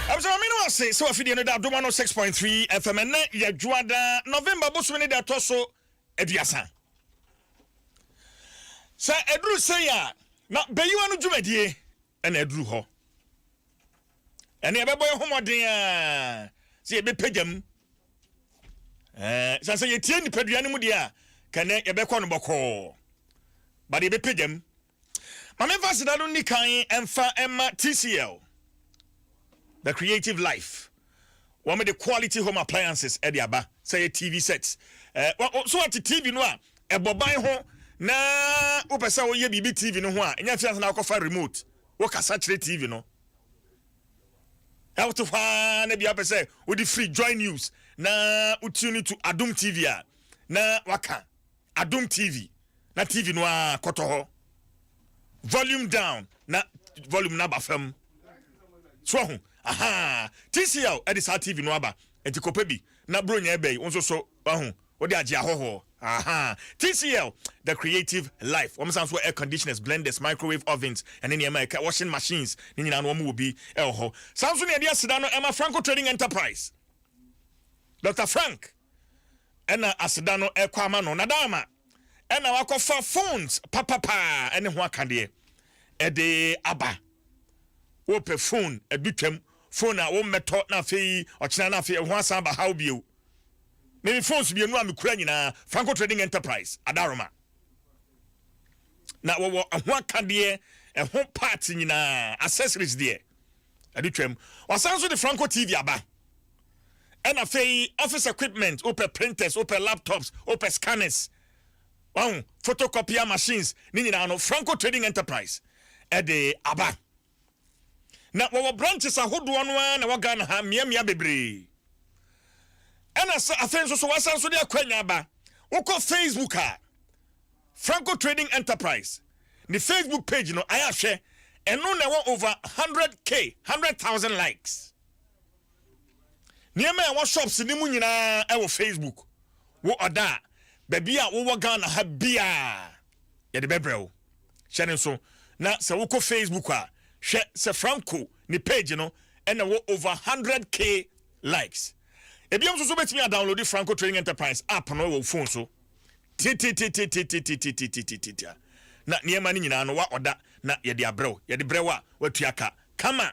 Abusua maame no ase sɛ wafidie no da adom ano six point three fm ɛnɛ yɛ dwoada November bosom ne da ɛtɔ so aduasa sɛ ɛduru sei a na bɛyiwa no dwumadie ɛna ɛduru hɔ ɛne ɛbɛbɔ yɛ ho mmɔden a sɛ yɛbɛpagya mu sɛ sɛ yɛtie nipadua no mu deɛ a kɛnɛ yɛbɛkɔ no bɔkɔɔ bade yɛbɛpagya mu Ma memfa aseda no nni kan mfa mma TCL, The Creative Life. Wɔde quality home appliances de aba sɛ ɛyɛ TV sets. So woate TV no a ɛbɔ ban ho na wopɛ sɛ woyɛ biribi TV no ho a, ɛnyɛ afei ansa na wokɔfa remote, wokasa kyerɛ TV no. Wote hɔ ara na bia wopɛ sɛ wode firi Joy News na wotune to Adom TV a na waka Adom TV na TV no ara kɔtɔ hɔ volume down na volume no aba fam so ahu aha TCL ɛde saa TV no aba nti kɔpɛ bi na bronya ɛbɛyi wo nso so ahu wode agye ahɔhoɔ aha TCL the creative life wɔn san so air conditioners blenders microwave ovens ɛne nneɛma ɛka washing machines ne nyinaa no wɔn wɔ bi ɛwɔ hɔ san so ne ɛde aseda no ɛma Franco Trading Enterprise Dr Frank na aseda no rekɔ ama no na da ama na wakɔfa phones papapaa ne ho akadeɛ ɛde aba wopɛ phone ɛdu twam phone a wommɛtɔ na afei ɔkyena na afei ɛho asan ba haw bio ne me phones mmienu a mekura nyinaa Franco Trading Enterprise adaroma na wɔwɔ ɛho akadeɛ ɛho parts nyinaa accessories deɛ ɛde twam wasan so de Franco TV aba Ɛna afei office equipment, wopɛ printers, wopɛ laptops, wopɛ scanners, wahu, photocopier machines, ne nyinaa no Franco Trading Enterprise ɛde aba. Na wɔwɔ branches ahodoɔ no ara na wɔ Ghana ha mmeammea bebree. Ɛna sɛ afei nso so wasan so de akwanya aba, wokɔ Facebook a, Franco Trading Enterprise ne Facebook page no ayɛ ahwɛ, ɛno na ɛwɔ over 100k, 100,000 likes. Nneɛma a ɛwɔ shops no mu nyinaa wɔ Facebook. Wo ɔda a, baabi a wowɔ Ghana ha biara yɛde bɛbrɛ wo. Hyɛ no nso na sɛ wokɔ Facebook a, hwɛ sɛ Franco ne page no na ɛwɔ over 100K likes. Ebiom nso so wobɛtumi a downloadi Franco Trading Enterprise app no wɔ wo phone so tititititititititititititita. Na nneɛma no nyinaa no wa ɔda na yɛde abrɛ wo. Yɛde brɛ wo a, woatua ka kama.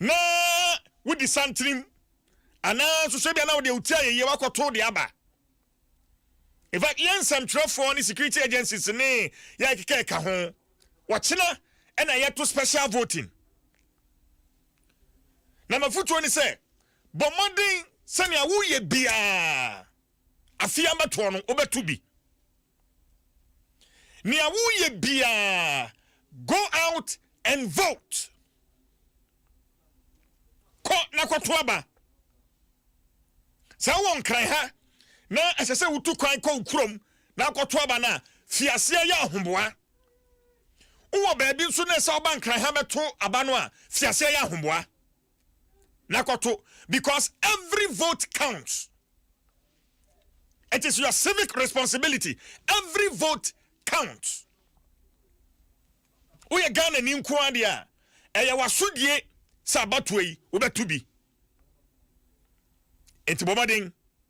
na wodi santenem anaa nso sɛ bia na wode wotia yɛyie wakɔto de aba in fact yɛn nsɛmtwerɛfoɔ ne security agencies ne yɛ keka ɛka ho wɔkyena ɛna yɛto special voting na mafotuo ne sɛ bɔ mmɔden sɛnea woyɛ biaa afei ambɛtoɔ no wobɛto bi Nea woyɛ biara, go out and vote. Kɔ na kɔto aba. Sɛ wowɔ nkran ha na ɛsɛ sɛ wotu kwan kɔ wo kurom na akɔto aba no a, fi aseɛ yɛ ahoboa. Wowɔ baabi nso na ɛsɛ ɔba nkran ha bɛto aba no a, fi aseɛ yɛ ahoboa. na kɔto because every vote counts it is your civic responsibility every vote counts woyɛ Ghana ni nko adeɛ a ɛyɛ wasodie sɛ abatoɔ yi wobɛto bi nti bɔmɔden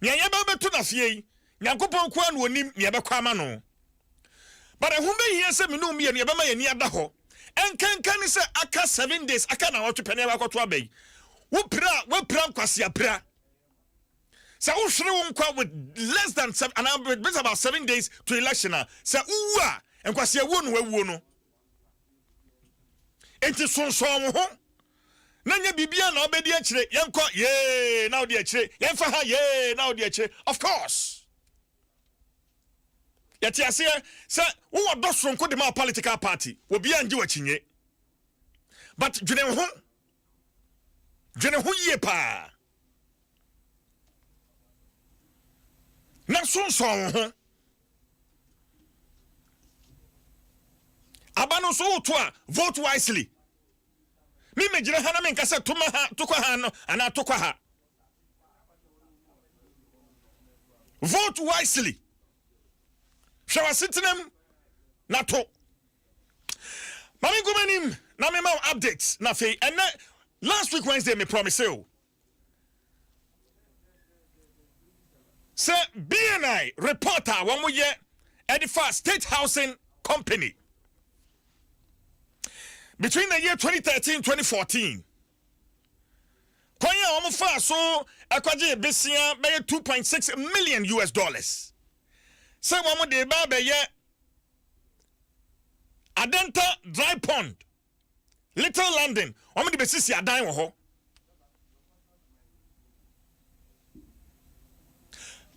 Nea yɛbɛ bɛto no afie yi, Nyankopɔn nko ara na ɔnim nea ɛbɛkɔ ama no. But ɛho bɛhia sɛ me ne wo mmienu yɛbɛma yɛn ani ada hɔ nkanka ne sɛ aka seven days, aka nnawɔtwe pɛ na yɛakɔ akɔto aba yi. Wo pira a, woapira nkwasea pira. Sɛ wohwere wo nkwa with less than seven, anaa with about seven days to election a, sɛ wowu a, nkwasea wuo na woawuo no. Enti sonsɔn wo ho na nyɛ biribiara na wobɛdi akyire. Yɛnkɔ, yee, na wode akyire. Yɛmfa ha, yee, na wode akyire. Of course. Yɛte aseɛ sɛ wowɔ dɔ soronko de ma political party. Obiara ngye w'akyinye. But dwene ho. Dwene ho yie paa. na so nsɔn wo ho aba no nso woto a vote wisely me megyina ha na menka sɛ toma ha tokɔ ha no anaa tokɔ ha vote wisely hwɛ w'asetenam na to Ma me nkɔ m'anim na me ma wo update na afei ɛnɛ last week Wednesday me promise o sɛ BNI report a wɔn yɛ ɛde fa state housing company between the year 2013 2014 kwan a wɔn fa so ɛkɔgye besia bɛyɛ 2.6 million US dollars sɛ wɔn de ba bɛyɛ Adenta dry pond little london wɔn de bɛsisi adan wɔ hɔ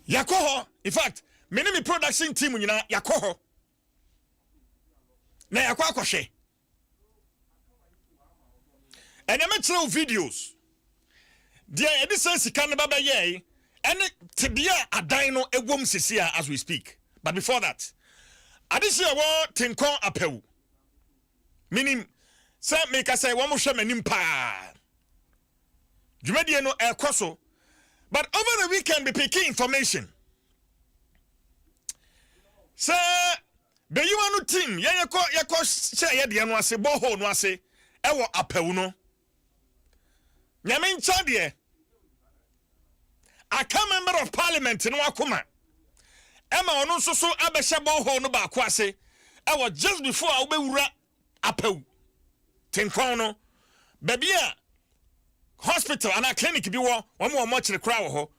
yɛakɔ hɔ in fact me ne me production team nyinaa yɛakɔ hɔ na yɛakɔ akɔhwɛ ɛnea mɛkyerɛ wo videos deɛ yɛde sɛ sika no ba bɛyɛe ɛne tebea a adan no ɛwom sisi a as we speak but before that adehye a ɛwɔ tenkɔn apɛw menim sɛ meka sɛ wɔn hwɛ m'anim paa Dwumadie no ɛkɔ so but over the weekend be picking information sɛ bɛyiwa no team yɛn yɛkɔ yɛkɔ hyɛ yɛ deɛ no ase borehole no ase ɛwɔ apɛwu no nyame nkyɛn deɛ aka member of parliament no akoma ɛma ɔno nso so abɛhyɛ borehole no baako ase ɛwɔ just before a wobɛwura Apawu Tenkɔn no, baabi a hospital anaa clinic bi wɔ, wɔn wɔ mortuary koraa wɔ hɔ.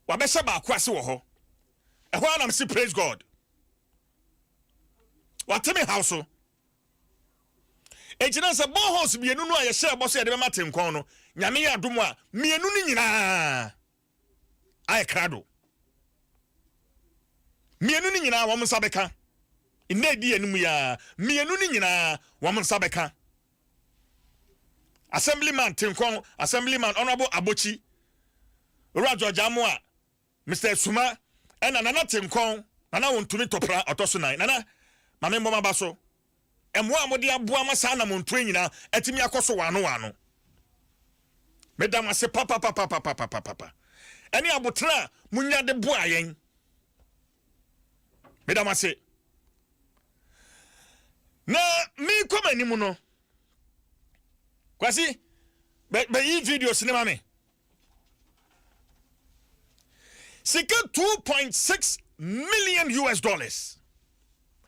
Wɔabɛhyɛ baako ase wɔ hɔ. Ɛhɔ ara na mese praise God. Wɔate me haw so. Enti na sɛ boreholes mmienu no a yɛhyɛɛ bɔ sɛ yɛde bɛma Tenkɔn no, Nyame yɛ adom a, mmienu no nyinaa ayɛ krado. Mmienu no nyinaa wɔn nsa bɛka. Nna edi anim yi ara, mmienu no nyinaa wɔn nsa bɛka. Assemblyman Tenkɔn, Assemblyman Honourable Abotsi, Owura George Amoah, Mister Asuma, ɛna Nana Tenkɔn, Nana Wontumi Topra, ɔtɔ so nan. Nana, ma me mmɔ m'aba so. mmoa a mode aboa ma saa anammɔntuo yi nyinaa atumi akɔ so waano waano. Meda mo ase papapapapapapapa ɛne aboterɛ a monya de boa yɛn. Meda mo ase. Na meekɔ m'anim no, Kwasi, bɛyi videos ne ma me. Sika two point six million US dollars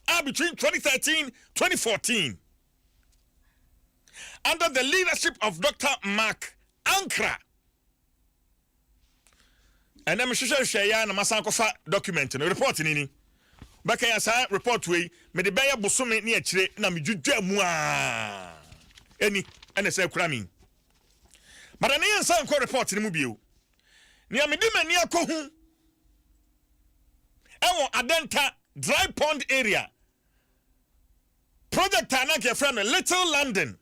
are between 2013 2014 under the leadership of Dr. Mark Ankra. ɛnɛ mehwehwɛ hwehwɛ yɛ na masan kɔfa document no report ni ni bɛka yɛ saa report wei mede bɛyɛ bosome ne akyire na medwidwa mu a ɛni ɛna sɛ kura me But ɛno yɛnsan nkɔ report no mu bio. Nea mede m'ani akɔhu ɛwɔ Adenta dry pond area, project a na anka yɛfrɛ no Little London.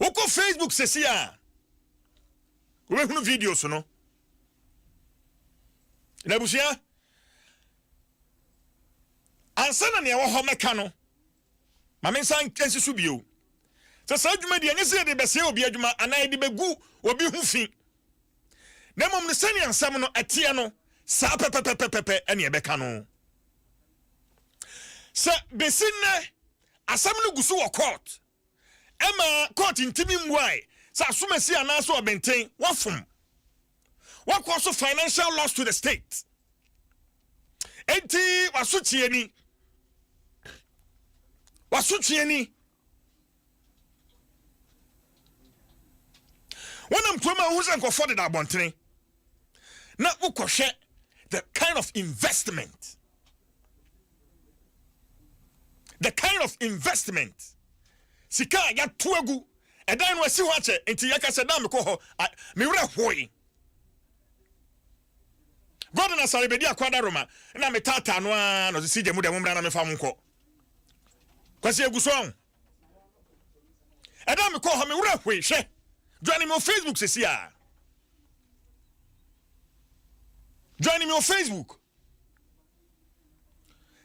Wokɔ Facebook sɛsi a, wobɛhunu videos no. Na abusua, ansa na nea ɛwɔ hɔ mɛka no, Ma mensan nsi so bio sɛ saa dwumadi yi, ɛnyɛ sɛ yɛde rebɛsɛe obi adwuma anaa yɛde begu obi ho fi, na mmom no sɛnea nsɛm no teɛ no, saa pɛpɛpɛpɛ na yɛbɛka no. Sɛ besi nnɛ, asɛm no gu so wɔ kɔɔt. Ɛma kɔɔt ntumi mmuae sɛ asomasi anaasɛ ɔbenten wafom. Wɔkɔ so financial loss to the state. Enti wasotwe ni. Wasotwe ni. Wɔnam kurom a wohu sɛ nkɔfɔ deda abɔntene na wokɔhwɛ the kind of investment The kind of investment, sika a yɛato agu, ɛdan no asi hɔ akyɛ, nti yɛka sɛ da a mekɔ hɔ, me werɛ hoe. God na sare bɛdi akɔ ada Roma, na metaataa no ara na ɔsisi gya mu dɛ mo mmra na mefa mo nkɔ. Kwasi egu so ɔn. Ɛda a mekɔ hɔ, me werɛ hoe, hwɛ. Join me on Facebook sisi a. Join me on Facebook.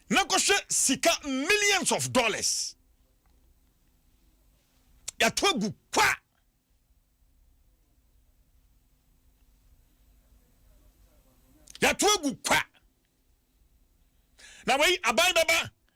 na kɔhwɛ sika millions of dollars yɛato agu kwa yɛato agu kwa na wei aban bɛba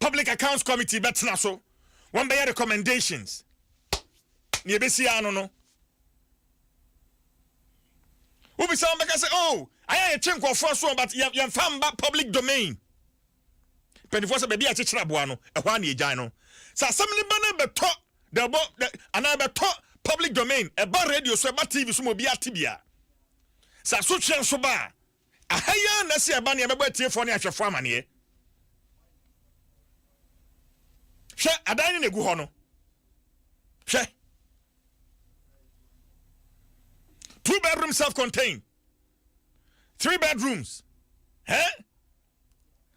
Public Accounts Committee bɛtena so, wɔbɛyɛ recommendations. Nea ebesi ano no, wobisa wɔn bɛka sɛ, oh, ayɛ a yɛtwe nkurɔfoɔ aso but yɛmfa mba public domain. Mpanimfoɔ sɛ baabi a yɛkyekyere aboa no, ɛhɔ a na yɛgyae no. Sɛ asɛm no ba no bɛtɔ dɛbɔ anaa ɛbɛtɔ public domain, ɛba radio so, ɛba TV so ma obi ate bia. Sɛ asotweɛ nso ba a, Aha yi ara na ɛsɛ sɛ yɛba na yɛbɛbɔ atiefoɔ ne ahwɛfoɔ amaneɛ. Hwɛ, adan no na ɛgu hɔ no. Hwɛ. Two bedroom self-contained. Three bedrooms. Eh?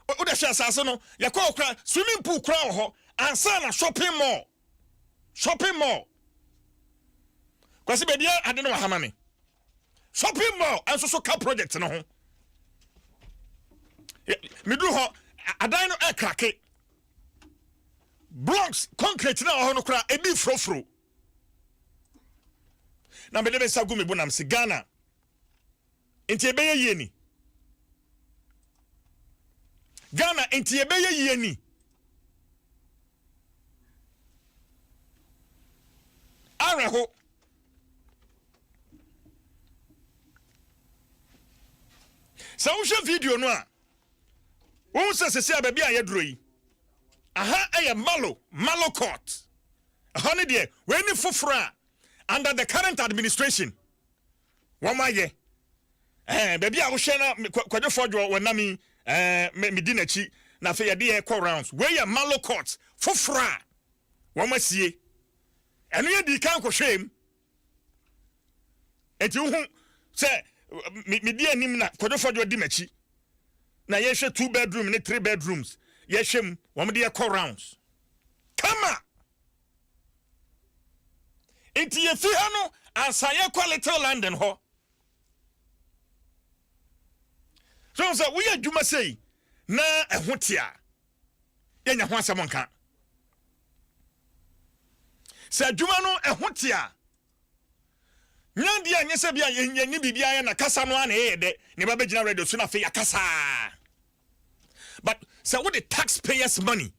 Wode hwɛ asase no, yɛkɔ hɔ kora, swimming pool kora wɔ hɔ, ansa na shopping mall. Shopping mall. Kwasi baabi a ade no wɔ ha ma me. shopping mall nso so ka project no ho meduru hɔ adan no ɛkrake blocks concrete na ɔhɔ no koraa ebi furofuro na mede me nsa gu me bo nam se ghana nti ɛbɛyɛ yie ni ghana nti ɛbɛyɛ yie ni awerɛho sɛ wohwɛ video no a wohu sɛ sɛsi a baabi a yɛduro yi aha ɛyɛ malo malo court ɛhɔ ne deɛ wei ne foforɔ a under the current administration wɔn ayɛ ɛɛ baabi a wohwɛ na kwadwofoɔ dwoɔ wɔn nam yi ɛɛ medi n'akyi na afei yɛde yɛ kɔ rounds wei yɛ malo court foforɔ a wɔn asie. Ɛno yɛ dii kan kɔhwɛɛ mu. Enti wohu sɛ medi anim na Kwadwo Fɔdwo di m'akyi. Na yɛhwɛ two bedroom ne three bedrooms. Yɛhwɛ mu, wɔn de yɛkɔ rounds. Kama! Nti yɛfi ha no ansa yɛkɔ Little London hɔ. So sɛ woyɛ adwuma sei na ɛho te a, yɛnya ho asɛm nka. Sɛ adwuma no ɛho te a, nya deɛ ɛnyɛ sɛ bia yɛnni biribiara yɛ na kasa no a na ɛyɛ dɛ na ɛba bɛgyina radio so na afei yɛakasa but sɛ wode taxpayers money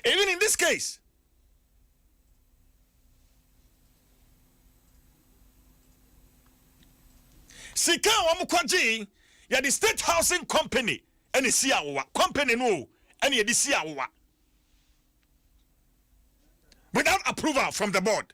even in this case sika a wɔn kɔgyee yɛde state housing company ɛna esi awowa company no o ɛna yɛde si awowa without approval from the board.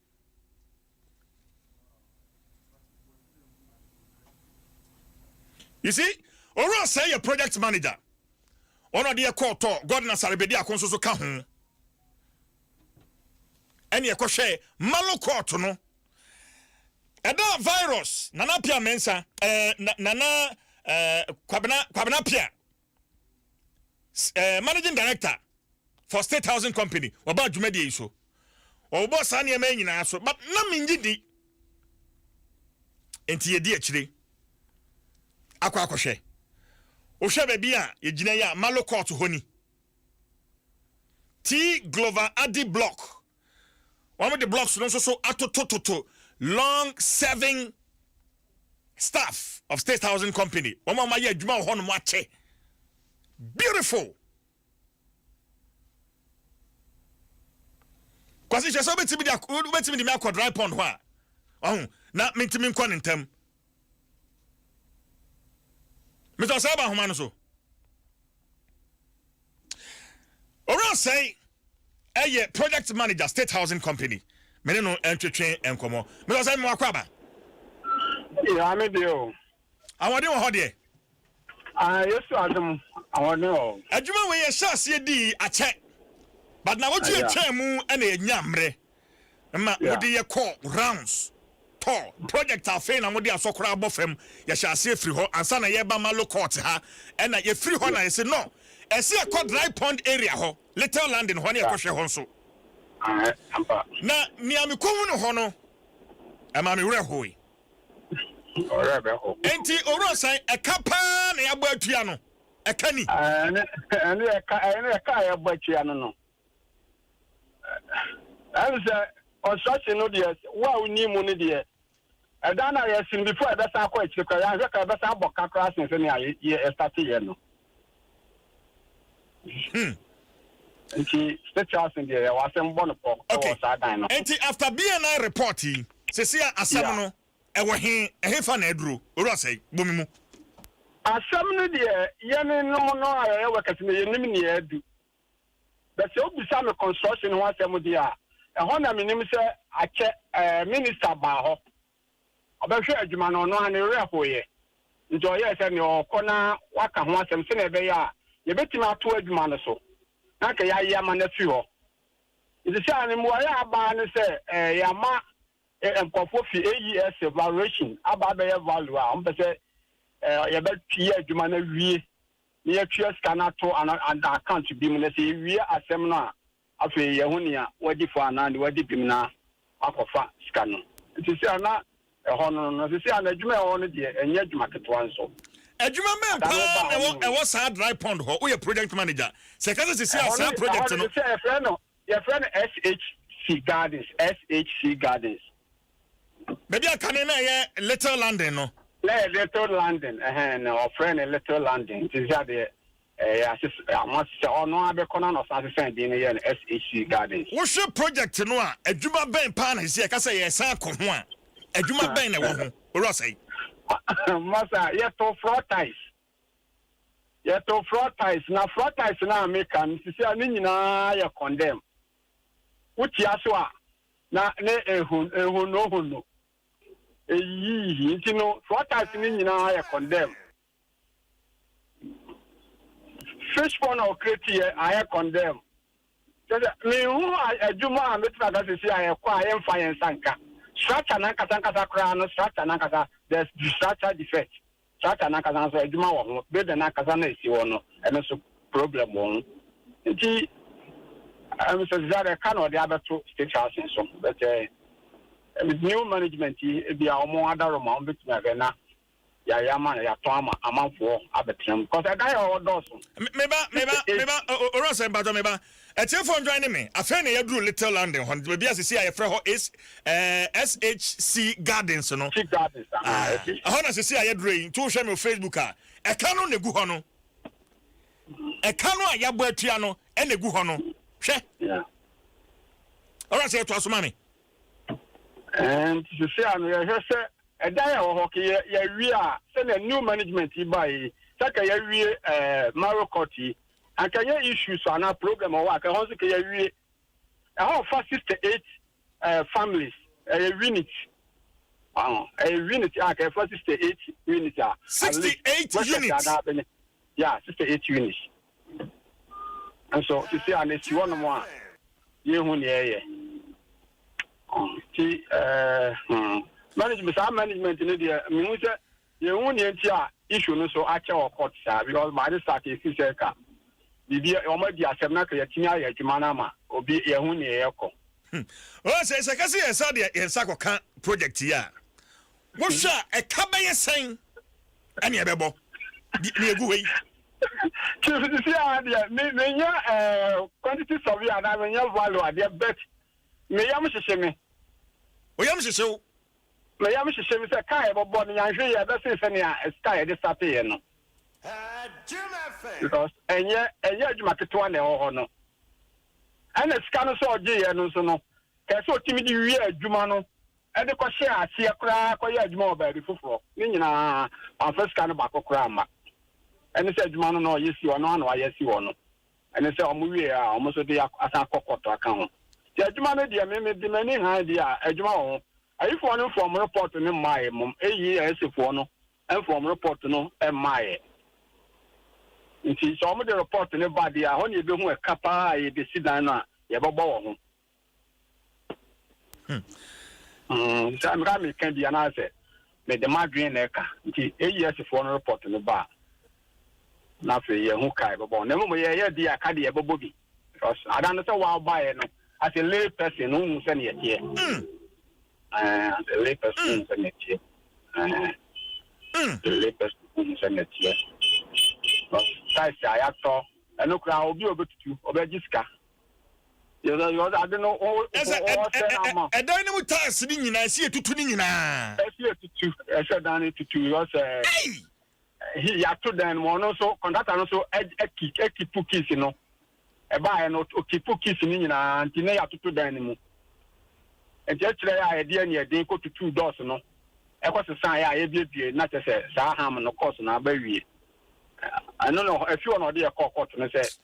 You see, Owura Osei yɛ project manager. Ɔno ɔde yɛ kɔɔ tɔ God na sarebedi ako nso so ka ho. Ɛne ɛkɔhwɛ Malo court no. Ɛda virus Nana Pia Mensa, eh, Nana eh, Kwabena, Kwabena Pia eh, managing director for state housing company wɔbaa dwumadie yi so wɔbobɔ saa nneɛma nyinaa so but na mengye di nti yɛdi akyire akɔ akɔhwɛ wohwɛ baabi a yɛgyina yi a malo court hɔ ni ti glover adi block Wɔde blocks no nso so atotototo long serving staff of state housing company wɔn a wɔayɛ adwuma wɔ hɔnom akyɛ beautiful kwasi hyɛ sɛ wobɛtumi de wobɛtumi de mi akɔ dry pond hɔ a ɔho na mentumi nkɔ ne ntam meda saa ba nhoma no so owura sɛe ɛyɛ project manager state housing company me ne no ntwetwe nkɔmmɔ meda sɛ mewakɔ aba yɛame deɛ o ahoɔden wɔ hɔ deɛ Ah, Yesu adom ahɔne wɔ hɔ. Adwuma wei yɛhyɛ aseɛ dii akyɛ but nawɔtwe atwaa mu na yɛnyaa mmerɛ ma mode yɛ kɔɔ rounds tɔ project afei na mode asɔ koraa bɔ fam yɛhyɛ aseɛ firi hɔ ansa na yɛba malo court ha ɛna yɛfiri hɔ na yɛse no ɛse ɛkɔ dry pond area hɔ little landing hɔ ne yɛkɔ hwɛ hɔ nso na nea mekɔhunu hɔ no ɛma me werɛ hoe. Ɔwerɛ bɛho. Enti owura sɛn ɛka paa na yɛabɔ atua no? Ɛka ni? Ɛne ɛne ɛka ɛne ɛka a yɛabɔ atua no no. Ɛne sɛ construction no deɛ wo a wonni mu no deɛ ɛdan no a yɛasi no before ɛbɛsan akɔ akyire koraa yɛanhwɛ ka ɛbɛsan abɔ ka koraa sen sɛnea yɛ yɛ ɛstate yɛ no. Hmm. Nti state house deɛ yɛ wasɛm bɔ no pɔ ɛwɔ saa dan no. Nti after BNI report yi sisi a asɛm no ɛwɔ he ɛhefa na aduro owura sɛe bomi mu. Asɛm no deɛ yɛne nom no a yɛyɛ workers no yɛnim nea adu but sɛ wobisa me construction ho asɛm deɛ a ɛhɔ na menim sɛ akyɛ ɛɛ minister baa hɔ Ɔbɛhwɛɛ adwuma no, ɔno ara ne werɛ hoeɛ. Enti ɔyɛɛ sɛ nea ɔrekɔ na waka ho asɛm sɛnea ɛbɛyɛ a yɛbɛtumi atoa adwuma no so, na anka yɛaye ama no afiri hɔ. Enti sɛ ano mmuaeɛ a aba ara ne sɛ yɛama nkurɔfoɔ fi AES Evaluation aba abɛyɛ value a wɔpɛ sɛ yɛbɛyɛ adwuma no awie na yɛatua sika no ato anaa account bi mu, na sɛ yɛwie asɛm no a Afei yɛ ho nea wadi fɔ anaa nea wadi bem na wakɔfa sika no. Ɛte sɛ a na ɛhɔ no no, ɛte sɛ a na adwuma a ɛwɔ hɔ no deɛ, ɛnyɛ adwuma ketewa nso. Adwuma bɛn Ada no paa baa na hɔ ɛwɔ no mu. ɛwɔ saa dry pond hɔ? Woyɛ project manager. Sɛ ɛka sɛ seesei Ɛhɔ a no, saa ɛhɔ project no no. te sɛ yɛfrɛ no, yɛfrɛ no SHC Gardens, SHC Gardens. Baabi a kane na ɛyɛ Little London no. Na ɛyɛ Little London, ɛhɛn, na wɔfrɛ no Little London. Nti sɛ adeɛ, Ɛɛ ases ama sesɛ ɔno ara bɛkɔ na na ɔsan sesɛn din no yɛɛ no SHC Gardens. Wohwɛ project no a, adwuma bɛn paa na sesɛ yɛka sɛ yɛresan akɔ ho a, adwuma bɛn na ɛwɔ ho, Owura Ɔsɛe? Mma saa, yɛtoo floor tiles, yɛtoo floor tiles, na floor tiles no a meka no sesɛ a ne nyinaa yɛ condemn. Wotia so a, na ne ehon, ehonnohonno, eyiyiyiyi, nti no floor tiles no nyinaa yɛ condemn. Fishpond a ɔkra ti yɛ ayɛ condemn kyerɛ sɛ menhu adwuma a mɛtumi aka sisi a ɛkɔ a yɛmfa yɛn nsa nka structure nankasa nkasa koraa no structure nankasa there's structure defect structure nankasa nso adwuma wɔ ho building nankasa na ɛsi hɔ no ɛno nso problem wɔ ho nti Mr. Zizada ɛka na ɔde abɛto state house nso bɛtɛ new management yi ebi a wɔn adaroma wɔn bɛtumi ahwɛ na yɛayɛ ama no, yɛatɔn ama amanfoɔ abɛtena mu, cause ɛdan yɛ hɔ hɔ dɔɔso. Me me ba me ba me ba o- o- owura sɛ mpatsɔ me ba ɛtiefo ndwan ne me afei na yɛduru little london hɔ baabi a sisi a yɛfrɛ hɔ S ɛɛ SHC gardens no Tea gardens, aha, ah ɛsi. ɛhɔ na sisi a yɛduru yi nti wohwɛ me wɔ facebook a ɛka no na egu hɔ no ɛka no a yɛabɔ atua no ɛna egu hɔ no hwɛ Yeah. owura sɛ yɛtoa so ma me. And sisi a no yɛhwɛ sɛ ɛdan a ɛwɔ hɔ ke yɛ yɛwie a sɛnea new management yi ba yi sɛ ka yɛwie ɛɛ Mario Court yi anka nyɛ issues anaa problem ɔwɔ a ka ɛhɔ nso ka yɛwie ɛhɔ fa sixty eight ɛɛ families ɛyɛ unit ɔn ɛyɛ unit a ka ɛfa sixty eight unit a sixty eight unit ya sixty eight unit. Nso sisi a n'esi hɔ nom a, yɛn hu nea ɛyɛ. Ti ɛɛ hmm management saa management ne deɛ mihu sɛ yɛn hu nea nti a issue no so akyɛ wɔ court saa because by this start esi sɛ ka biribi wɔn adi asɛm na ka yɛtumi ayɛ adwuma no ama obi yɛn hu nea ɛyɛ kɔ. Hmm. Ɔsɛ sɛ kasi yɛn nsa deɛ yɛn nsa kɔ ka project yi a. Wohwɛ a, ɛka bɛyɛ sɛn na ɛbɛbɔ nea egu hɔ yi? Chief, sisi ara deɛ, me, menyɛ eh, quantity survey anaa menyɛ value adeɛ, but me yam hyehye me. Wo yam hyehye wo? Me yam hyehye me sɛ kaa yɛbɛbɔ no, yɛanhwɛ yie a, ɛbɛsen sɛnea kaa yɛde starteeɛ no. Because ɛnyɛ, ɛnyɛ adwuma ketewa na ɛwɔ hɔ no. Ɛna sika no sɛ ɔgyeeɛ no nso no, kɛɛ sɛ ɔtumi de wie adwuma no de kɔhyɛɛ aseɛ koraa kɔyɛɛ adwuma wɔ baabi foforɔ ne nyinaa, wamfa sika no baako koraa amma. Ɛne sɛ adwuma no na ɔyɛ si hɔ, ɛno ara na wayɛ asi hɔ no. Ɛne sɛ wɔwieeɛ a, wɔn nso de asan akɔ kɔɔto aka ho. Nti adwuma no deɛ, me mede m'ani hann deɛ a, adwuma wɔ ho. Ayifoɔ no mfaa wɔn repɔɔto no mmaeɛ mmom, eyi ASAfoɔ no mfaa wɔn repɔɔto no mmaeɛ. Nti sɛ wɔde repɔɔto no ba deɛ a, ɛhɔ na yɛbɛhu ɛka pa ara a yɛde si dan no a, yɛbɛbɔ wɔ ho. Hmm, sɛ meka meka bi anaasɛ mede m'adwene na ɛka nti AESfoɔ no report no ba a na afei yɛhu ka ɛbɛbɔ na mmom yɛyɛ bi a ka deɛ ɛbɛbɔ bi because ada no sɛ wabaeɛ no as a lay person no wohu sɛdeɛ ɛteɛ hmm. eh, as a lay person wohu hmm. sɛdeɛ ɛteɛ eh, as a lay person wohu sɛdeɛ ɛteɛ because size a yɛatɔ ɛno koraa obi a ɔbɛtutu ɔbɛgye sika Yɛsɛ yɛ ɔdze ade no ɔwɔ Ɛsɛ ɛ ɔwɔ sɛ ɛ ɛ n'ama. ɛdan no mu tiles no nyinaa ɛsɛ yɛtutu ne nyinaa. Ɛsɛ yɛ tutu ɛsɛ dan no tutu because ɛɛ Ei! hi yɛato dan no mu ɔno nso kɔntrata no nso ɛ ɛki ɛkipu keys no ɛbaeɛ no ɔkipu keys no nyinaa nti na yɛatoto dan no mu nti ɛkyerɛ yɛ a yɛde ani ɛden kɔ tutu doors no ɛkɔ sesaa yɛ a yɛbiebie na kyɛ sɛ saa ham no course no aba wie ɛno no ɛfi hɔ na ɔde yɛ kɔɔ court no sɛ.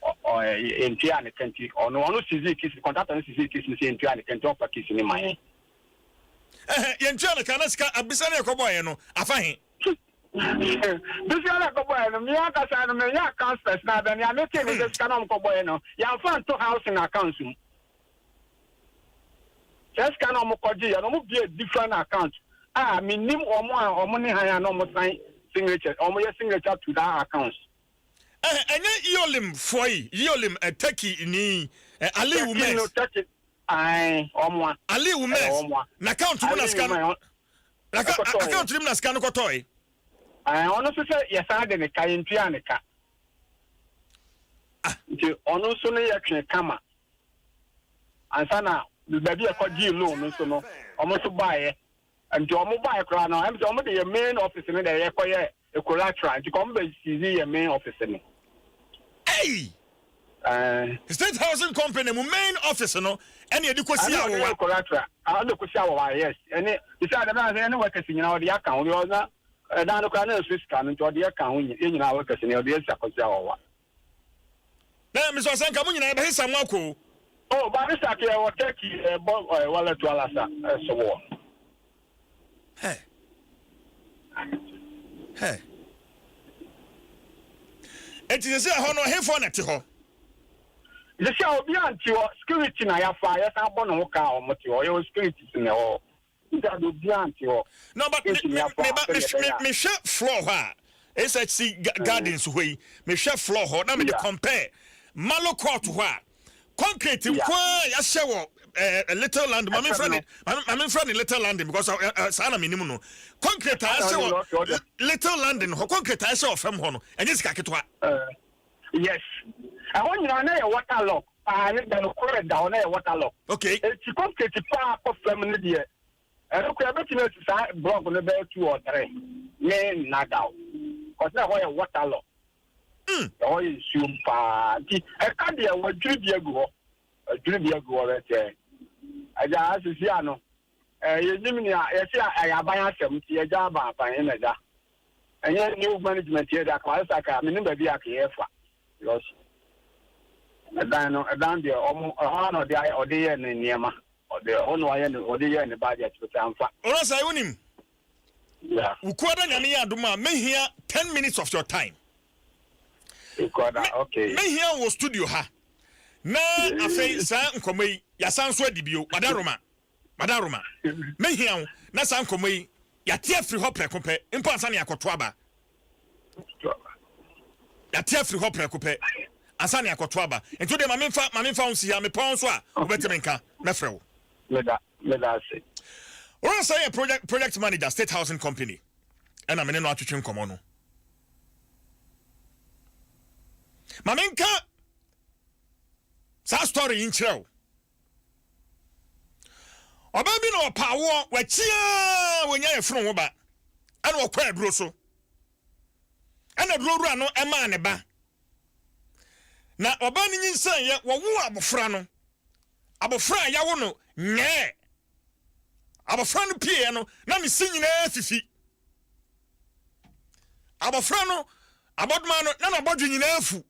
ɔ ɛ yɛntuaa ne ka nti, ɔno ɔno sizii kisi, kɔntraktɔ no sizii kisi no sɛ yɛntua ne ka nti ɔmfa kisi no mma yɛn. Ɛhɛ, yɛntua no ka na sika abisa no a yɛkɔbɔeɛ no, afa he? Bisia no a yɛkɔbɔeɛ no, me ankasa no, menyɛ accounts personnel bɛ, nea metee ne sɛ sika no a wɔkɔbɔeɛ no, yɛamfa anto housing accounts mu. Saa sika no a wɔkɔgyeeɛ no, wɔbuee different account a mennim wɔn a wɔne hann a na wɔsan signature, wɔyɛ signature to that accounts. Ɛhɛ, ɛnyɛ Iolim foɔ yi, Iolim ɛ, Turkey ni, ɛ, Ali Turkey Umez. no, Turkey, ae, ɔmoa, Ali ɛyɛ Umez, ɔmoa, n'account mu na Ali sika no, Umez, ɔ- n'aka, a- ɛkɔtɔɔe. account no mu na sika no kɔtɔɔe. Ae, ɔno nso sɛ yɛsan de ne ka, yɛntua ne ka. Ah. Nti ɔno nso no yɛtwe kama. Ansa na baabi a ɛkɔgyee loan no nso no, ɔmo nso baeɛ. Nti ɔmo bae koraa no ɛm sɛ ɔmo de yɛn main office no na yɛkɔ yɛ collateral nti ka ɔmo bɛ seize yɛn main office no. Ei! Ɛɛ. State housing company mo main office no ɛna yɛde kɔ si awowa. Ɛna ɔde yɛ collateral a ɔde kɔ si awowa yes ɛne te sɛ adɛm na sɛ yɛne workers nyinaa ɔde yɛ ka ho because na ɛdan no koraa na ɛso sika no nti ɔde yɛ ka ho yɛn nyinaa workers no ɔde yɛ si akɔ si awowa. Na mesua sɛ nka mo nyinaa yɛbɛsesa mo akɔ o. Oh barista to ɛwɔ Turkey ɛbɔ eh, wala to alasa ɛso wɔ. Hɛ. Hɛ. Eti sɛ sɛ ɛhɔ no ɛhefoɔ na ɛte hɔ? Mesɛ obi a nte hɔ, security na yafa, yɛsan bɔ ne ho ka a wɔn te hɔ, yɛwɔ security si na ɛwɔ hɔ. Sika de obiara nte hɔ. No but me me me ba me me hwɛ floor hɔ a SHC gardens hɔ yi me hwɛ floor hɔ na me de compare Malo court hɔ a concrete nko a yɛahyɛ wɔ ɛɛ little land maame nfrɛ ne maame nfrɛ ne little land because saa na menim no concrete a yɛahyɛ wɔ little land hɔ concrete a yɛahyɛ wɔ fam hɔ no ɛnyɛ sika ketewa. Yes ɛhɔ nyinaa na yɛ water lock paa ne da no koro ɛda hɔ na yɛ water lock okay. Eti kɔ skate paa kɔ fam ne deɛ ɛno kura ɛbɛtumi asi saa block no bɛyɛ two or three me nada o cause na ɛhɔ yɛ water lock mm. ɛhɔ yɛ nsuom paa nti ɛka deɛ wɔadwiri bi agu hɔ adwiri bi agu hɔ bɛsɛ agya asisi ano Eh, yɛnim nea yɛte a ɛyɛ aban asɛm nti yɛgya aban aban he na ɛda. Ɛnyɛ new management yɛ da kawayɛ sa ka menim baabi a keyɛ fa. Because ɛdan no ɛdan deɛ ɔmo ɛhɔ a na ɔde ayɛ ɔde yɛ ne nneɛma. Ɔde ɛhɔ na ɔyɛ ne ɔde yɛ ne budget but amfa. Ɔrasai wonim. Yeah. Wukuada nyame yɛ adom a mehia ten minutes of your time. Ikuada okay. Mehia wo studio ha. Na afei saa nkɔmɔ yi yasan so adi bio. Wadaroma. Madam Roma, mɛhia wo na saa nkɔmmɔ yi yɛate afiri hɔ prɛko pɛ mpo ansa na yɛakɔto aba. Yɛate afiri hɔ prɛko pɛ ansa na yɛakɔto aba. Nti wo deɛ ma memfa ma memfa wo nsi ha mepɔn nso a wobɛtumi nka mɛfrɛ wo. Meda meda ase. Ɔrɔnsa yɛ project project manager state housing company ɛna me ne no atwetwe nkɔmmɔ no. Ma menka saa story yi nkyerɛ wo. Ɔbaa bi na ɔpa awoɔ, wakyia wɔnya yɛ fono ho ba, ɛna ɔkɔ aduro so. Ɛna aduro wura no ɛmaa ne ba. Na ɔbaa no nyinsɛn yɛ, wɔwo abofra no. Abofra a yawo no nyɛɛ. Abofra no pieɛ no, na ne se nyinaa fifi. Abofra no abɔdoma no, na n'abɔdwe nyinaa fu.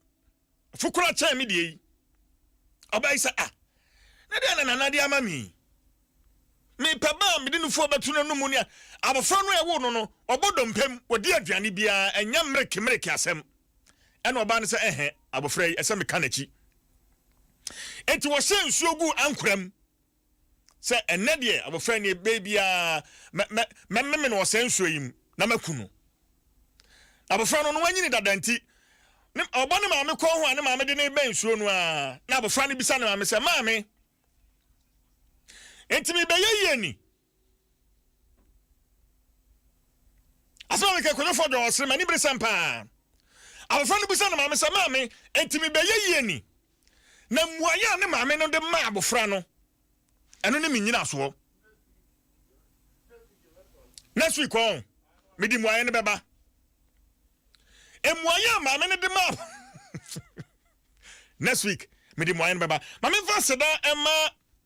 Fo koraa kyɛn me deɛ yi. Ɔbaa yi sɛ, Ah, na deɛn na Nana de ama me yi? Mepɛ ba a mede no fuo bɛto n'anomu ne abɔfra no a ɛwoo no no, ɔbɔ dompe mu, ɔdi aduane biara, ɛnyɛ mmereke-mmereke asɛm. Ɛnna ɔbaa no sɛ, Ɛhɛ, abɔfra yi, ɛsɛ meka n'akyi. Enti wɔhyɛɛ nsuo guu ankora mu. sɛ, Ɛnnɛ deɛ, abɔfra yi nie, berɛ biara mɛ, mɛ, mɛmeme no wɔ saa nsuo yi mu na maku no. Na abɔfra no, na wanyini dada nti, ne, ɔbɔ ne maame kɔn ho a ne maame de no rebɛn nsuo no ara, na abɔfra no bisa ne maame sɛ, Maame, enti merebɛyɛ yie ni? asɛm a meka kwadwofoɔ dɔɔ ɔsere m'ani bere sɛm paa abɔfra no bisa ne maame sɛ maame ɛnti mebɛyɛ yie ni na mmuaeɛ a ne maame no de ma abɔfra no ɛno ne menyinasoɔ next week ɔn mede mmuaeɛ no bɛba mmuaeɛ a maame no de ma next week mede mmuaeɛ no bɛba ma memfa seda ɛma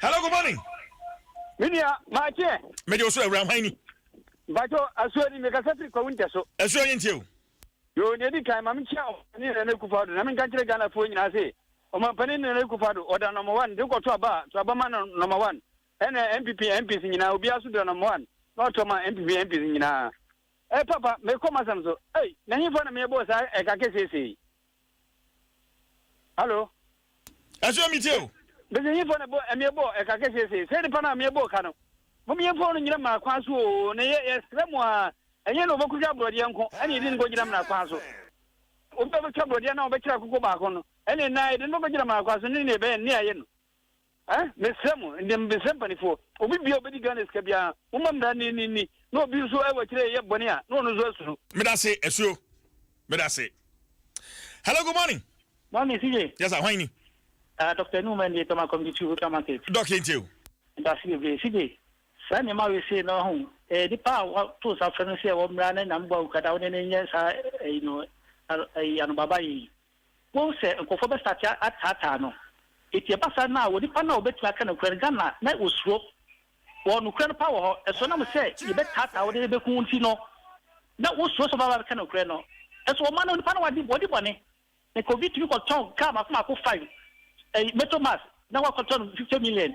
hello good morning. mi nua maa kyeɛ. mede o so awura hwan ni. mpatsɔ asuo ni mekasa firi kwawu ntɛ so. asuo yɛ ntie o. yoo nea edi kan ma mi kyia ɔmampanin nana ekufa do na mi nka nkyerɛ ghana foɔ nyinaa se ɔmampanin nana ekufa do ɔda nɔmba wan de kɔ to aba a to aba ma no nɔmba wan ɛna npp mps nyinaa obiara so da nɔmba wan na ɔtɔ ma npp mps nyinaa. Hey, papa mekɔ masɛm so ei na hemfa na meyɛbɔɔ saa ɛka kɛseesei Hello. Ɛsɛ omi tie o. Bɛsɛ yifo na bɔ ɛmi ɛbɔ ɛka kɛseɛ se sɛ nipa na mi ɛbɔ ka no mo mi yɛmfa ɔno nyina mena kwan so o na yɛ yɛsrɛ mo a ɛnyɛ na ɔbɛkɔtwa aborɔdeɛ nko ɛne yɛde no kɔgyina mena kwan so obi a ɔbɛtwa aborɔdeɛ na ɔbɛkyerɛ akoko baako no ɛne na yɛde no bɛkɔgyina mena kwan so ne ne ɛbɛyɛ ne ayɛ no Eh, mesrɛ mo, ɛnde mesrɛ mpaninfoɔ, obi biara a ɔbɛdi Ghana sika biara, momma mmara no nni nni, na obi nso a ɛwɔ akyire reyɛ bɔne a, na ɔno nso asuro. Medase asuo medase. Hello good morning. Morning CJ. Yes sir hwan ni. Ah Doctor Anu Mandi Tama Community Two Ultra Market. Doc yɛn tie o. Medase bebree CJ. Saa nneɛma wei sei no ho eh, nipa a wato nsa frɛ no sɛ wɔmmra ne nam bɔ awukadaa wo ne ne nyɛ saa ɛyi no ɛyi anobaba yi. Wohu sɛ nkorɔfoɔ bɛ start ataataa no nti ɛba saa no a wɔ nipa no a ɔbɛtumi aka nokorɛ no Ghana na wɔsuro wɔ nokorɛ no paa wɔ hɔ ɛso ɛnam sɛ yɛbɛ taataa wo de bɛku wo nti no na wosuro sɛ ɔbɛba abɛka nokorɛ no ɛso wɔ ma no nipa no wadi wadi bɔne nka obi tumi kɔtɔn car mako mako five ɛyi meto mass na wakɔtɔ no fifty million.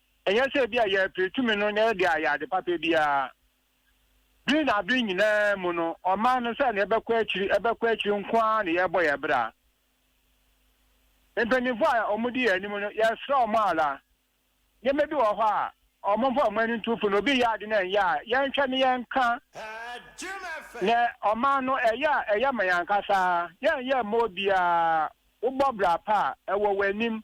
Ɛnyɛ sɛ ebia yɛrepere tumi no na ɛde ayɛ ade papa biara. Bere na bere nyinaa mu no, ɔman no sɛnea ɛbɛkɔ akyiri ɛbɛkɔ akyiri nko ara na yɛrebɔ yɛn bra. Mpanyimfo a wɔdi yɛn anim no, yɛsrɛ wɔn ara. Nneɛma bi wɔ hɔ a, wɔmfa wɔn ani nto fam. Obi yɛ ade na ɛnyɛ a, yɛnhwɛ na yɛnka. Na ɔman no, ɛyɛ a ɛyɛ ma yɛn ankasa. Yɛrenyɛ mma obiara. Wobɔ bra pa a, ɛwɔ w'anim.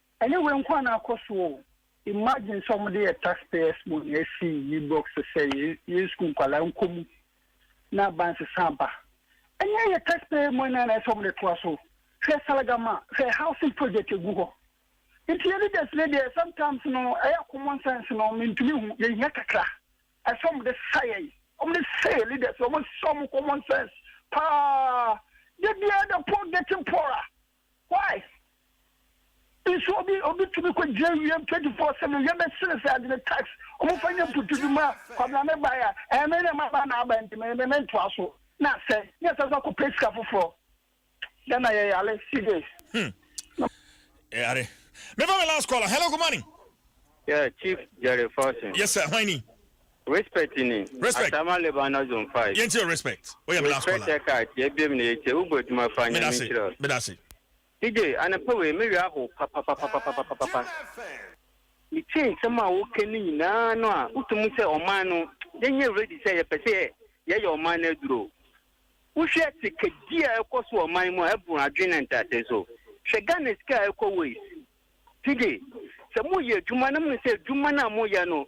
Ɛnyɛ wei nko a na akɔ so o, imagine sɛ wɔde yɛ tax payers money asi Ibrox sɛ yɛn sukuu nkwadaa nkɔ mu na aba nsesa aba. Ɛnyɛ yɛ tax payer money na ɛsɛ wɔde toa so. Hwɛ Salagama, hwɛ housing project ɛgu hɔ. Nti yɛ leaders no deɛ sometimes no ɛyɛ common sense no mentumi hu, yɛhia kakra. Ɛsɛ wɔde sa yɛn, wɔde sa yɛ leaders, wɔde sa wɔn common sense paa. Da biara the poor getting poorer. Why nso obi obi tumi kɔ gyina ewiem twenty four seven yɛ bɛ sere sɛ adi ne tax ɔmo fa nye putu bi ma kwabena ne ba ya ɛyɛ mɛ ne ma ba na aba nti mɛ mɛ mɛ ntoa so na asɛ ne asɛ so akɔ pɛ sika foforɔ yɛ na yɛ yare si de. Hmm. Yare. Me fa me last caller. Hello, good morning. Yeah, Chief Jerry Fortune. Yes, sir. Why ni? Respect ni Respect Asama Lebanon zone five. Yɛn kyerɛ respect wo yɛ me last Respect caller. ɛ kaa kyɛ ɛbiem na yɛ kyɛ wo bɔ adwuma faa Meda nyame se nhyira wo. meda se. DJ anɔpa wei me werɛ ahow papapapapapapapa me tie nsɛm a wo ka no nyinaa no a wo to mu sɛ ɔman no yɛ nyɛ ready sɛ yɛ pɛ sɛ yɛ yɛ yɛ ɔman no aduro wo hwɛ sikadi a ɛkɔ so wɔ ɔman mu a ɛboro adwene ne ntease so hwɛ Ghana sika a ɛkɔ waste DJ sɛ mo yɛ adwuma na mo nim sɛ adwuma no a mo yɛ no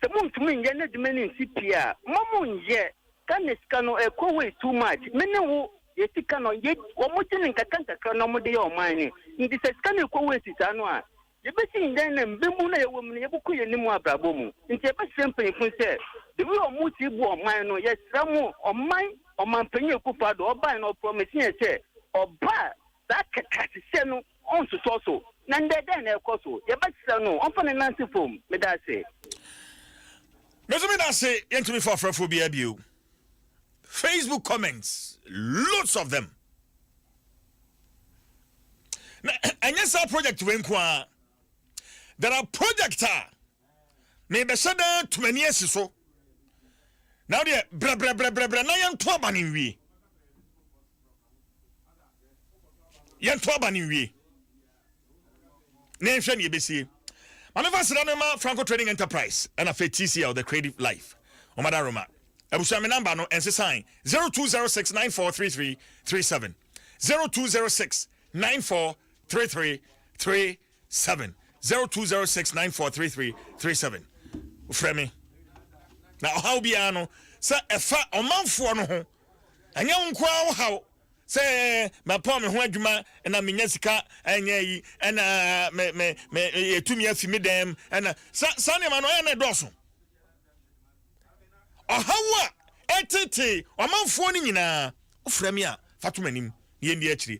Sɛ montumi nyɛ n'adwuma no nsi pii a, mma monnyɛ. Ghana sika no, ɛrekɔ wei too much. Me ne wo, yɛn sika no, yɛ, wɔgye no nkakrankakra na wɔde yɛ ɔman no. Nti sɛ sika no rekɔ waste saa no a, yɛbɛsi ndɛn na mmamu no a yɛwɔ mu no, yɛbɛkɔ yɛn anim wɔ abrabɔ mu? Nti yɛbɛsrɛ mpanyimfo no sɛ, the way a wɔsi boa ɔman no, yɛsrɛ mo, ɔman, Ɔmanpanyin Akufo-Addo, ɔbae no, ɔpromisee yɛn sɛ ɔba a, saa kakra sesɛ no, Ɔntotɔ so. Na ndɛ dɛn na ɛkɔ so? Yɛbɛkyerɛ no. Ɔmfa ne nan nsi fam. Meda ase. Me nso meda ase. Yɛntumi fa ɔfrɛfoɔ biara bio. Facebook comments, loads of them. Na ɛnyɛ saa project wei nko ara. There are project a Mebɛhyɛ dɛn atu m'ani asi so? Na wodeɛ brɛbrɛbrɛbrɛbrɛ na yɛnto aba no nwie. Yɛnto aba no nwie. Na yɛnhwɛ ne yɛbɛsie. Maame fa sra no ma Franco Trading Enterprise ɛna fɛ TCL The Creative Life. Ɔmada Roma. Abusua me namba no ɛnsesan 0206 943337 0206 943337 seven zero two zero six nine four three three three seven frɛ me na ɔhaw biara no sɛ ɛfa ɔmanfoɔ no ho ɛnyɛ wo nkoa wo haw sɛ mapɔn me ho adwuma na menya sika ɛnyɛ yi ɛna me me me yɛtumi afi me dɛm ɛna sa saa nneɛma no ɛyɛ na ɛdɔɔso ɔhaw a ɛtete ɔmanfoɔ no nyinaa wofrɛ me a fa to m'anim na yɛndi akyire